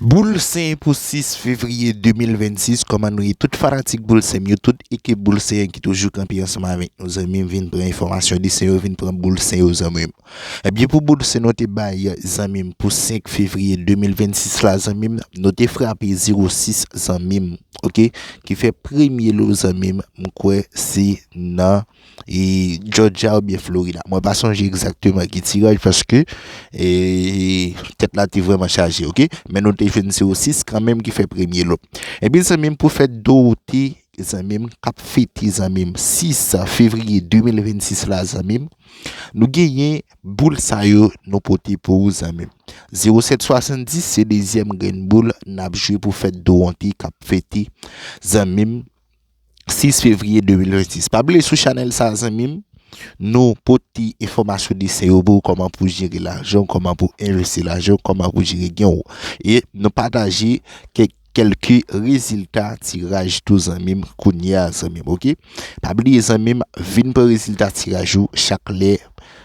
Boul Sen pou 6 fevriye 2026 kòman nou ye tout fanatik boul senm yo tout ekip boul sen an ki toujou kanpe ansanm avèk nou zanmim vin pran enfòmasyon de sen yo vin pran boul sen yo zanmim ebyen pou boul sen nou te bay zanmim pou 5 fevriye 2026 la zanmim nou te frape 0 6 zanmim ok ki fè premye lo zanmim m kwè se nan. e Jòjya oubyen Florida mwen pa sonje egzakteman ki tiraj paske e tèt la te vrèman chaje ok men nou te jwenn se osis kanmenm ki fè premye lò ebyen zanmi m pou fèt Dorote zanmi m kap fete zanmi m 6 fevriye 2026 la zanmi m nou genyen boul sa yo nou pote pou ou zanmi m 0770 se dezyèm grenn boul nap jwe pou fèt Doronte kap fete zanmi m. 6 fevrier 2026 pa bliye sou chanel sa zanmim nou pote enfomasyon de se yo pou ou koman pou jere lajanw koman pou envesti lajanw koman pou jere genw e nou pataje kek kelke rezilta tiraj tou zanmim kounya zanmim ok pa bliye zanmim vin pran rezilta tiraj ou chak lè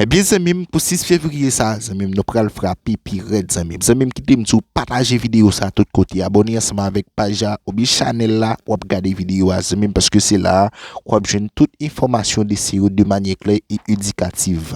Ebyen zanmim pou 6 fevriye sa zanmim nou pral frape pi rèd zanmim zanmim kitem di w pataje video sa tout kote abone ansanm avèk paj la oubyen chanèl la wap gade video a zanmim paske se la wap jwenn tout enfòmasyon de se yo de manyè klè e edikativ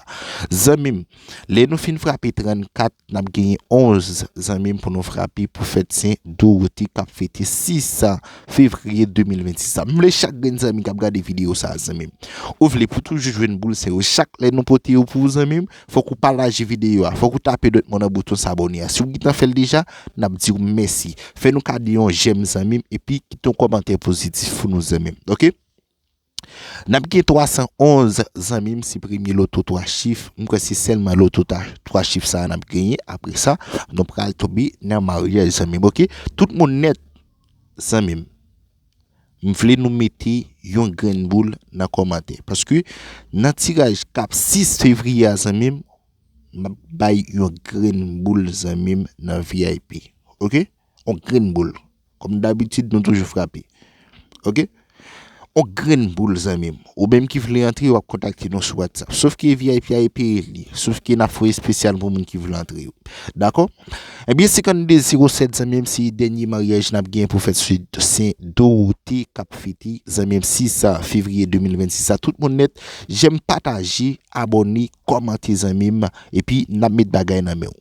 zanmim lè nou fin frape 34 N ap genyen 11 zanmi pou nou frape pou fèt Sen Dorote k ap fete 6 fevriye 2026 la. M vle chak grenn zanmi k ap gade videyo sa a zanmi m. Ou vle pou toujou jwenn boul Sen yo chak lè nou pote yo pou ou zanmi m. Fòk ou pataje videyo a. Fòk ou tape dwèt mwen nan bouton sabone a. Si w gentan fè l deja, n ap di w mèsi. Fè nou kado yon jèm zanmi m epi kite yon kòmantè pozitif pou nou zanmi m. Ok. Nap gen 311 zanmim se premye loto 3 chif m kwè se sèlman loto 3 chif sa nap genyen apresa nou pral tonbe nan maryaj zanmim ok tout moun nèt zanmim m vle nou mete yon grenn boul nan kòmantè paske nan tiraj kap 6 fevriye a zanmim map bay yon grenn boul zanmim nan vip ok. On grenn boul. Kòm dabitid nou toujou frape. Ok. On grenn boul zanmi m. Ou menm ki vle antre wap kontakte nou sou WhatsApp. Sof ke vip a e peye l ye. Sof ke nap fè espesyal pou moun ki vle antre yo. Dakò. Ebyen 52 07 zanmi m se dènye maryaj nap gen pou fèt sou Sen Dorote kap fete zanmi m 6 fevriye 2026 la. Tout moun nèt jèm pataje abòne kòmante zanmi m. Epi nap met bagay nan men w.